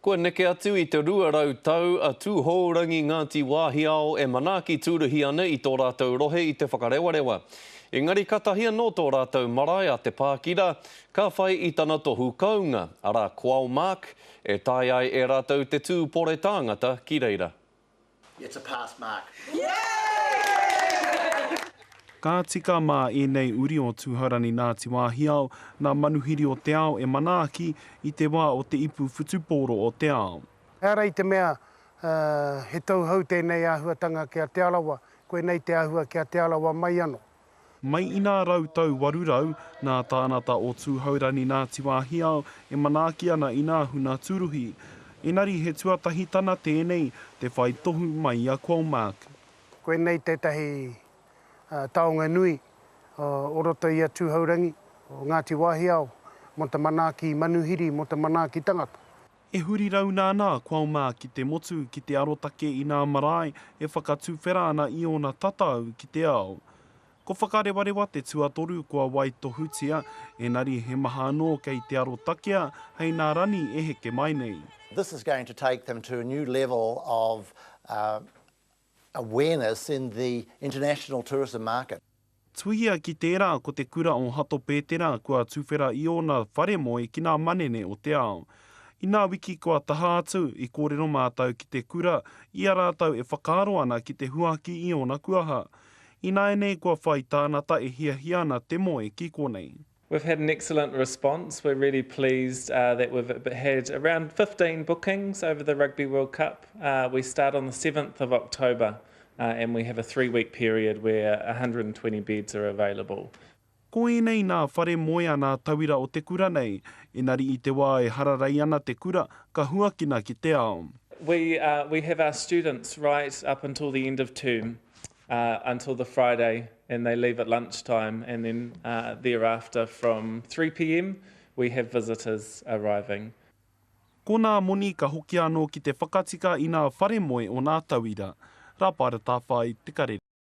Kua neke atu i te 200 tau a Tūhourangi Ngāti Wāhiao e manaaki tūruhi ana i tō rātou rohe i te whakarewarewa. Engari katahi anō tō rātou marae a Te Pākira ka whai i tana tohu kounga, arā Qualmark, e tae ai e rātou te tūpore tāngata ki reira. It's a pass mark. Ka tika mā ēnei uri o Tūhaurani Ngāti Wāhiao nā Manuhiri o te Ao e manaaki i te wā o te ipu whutupōro o te ao. He ara i te mea he tauhou tēnei āhuatanga ki a Te Arawa, koinei te āhua ki a Te Arawa mai anō. Mai i nā rau tau waru rau, nā Tānata o Tūhourangi Ngāti Wāhiao e manaaki ana i nā huna tūruhi. Engari he tuatahi tana tēnei, te whai tohu mai i a Colmark. Koinei tētahi taonga nui o roto i a Tūhourangi, o Ngāti Wāhiao, mō te manaaki manuhiri, mō te manaaki tangata. E huri rauna ana a Qualma ki te motu ki te arotake i nā marae e whakatuwhera ana i ōna tatau ki te ao. Ko Whakarewarewa te tuatoru kua waitohutia, ēnari he maha anō kei te arotakea hei nā Rani e heke mai nei. This is going to take them to a new level of awareness in the international tourism market. Tuhia ki tērā ko te kura o Hato Pētera kua tuwhera i ōna whare moe ki ngā manene o te ao. I ngā wiki kua taha atu, i kōrero mātou ki te kura i a rātou e whakaaro ana ki te huaki i ōna kuaha. Ināianei kua whai tānata e hiahia ana te moe ki konei. We've had an excellent response, we're really pleased that we've had around 15 bookings over the Rugby World Cup. We start on the 7th of October and we have a three week period where 120 beds are available. Ko ēnei nā whare moe anā tauira o te kura nei, engari i te wā e hararei ana te kura ka huakina ki te ao. We have our students right up until the end of term until the Friday and they leave at lunch time and then thereafter from three pm we have visitors arriving. Ko nā moni ka hoki anō ki te whakatika i nā whare moe o nā tauira. Rāpara Tāwhai, Te Karere.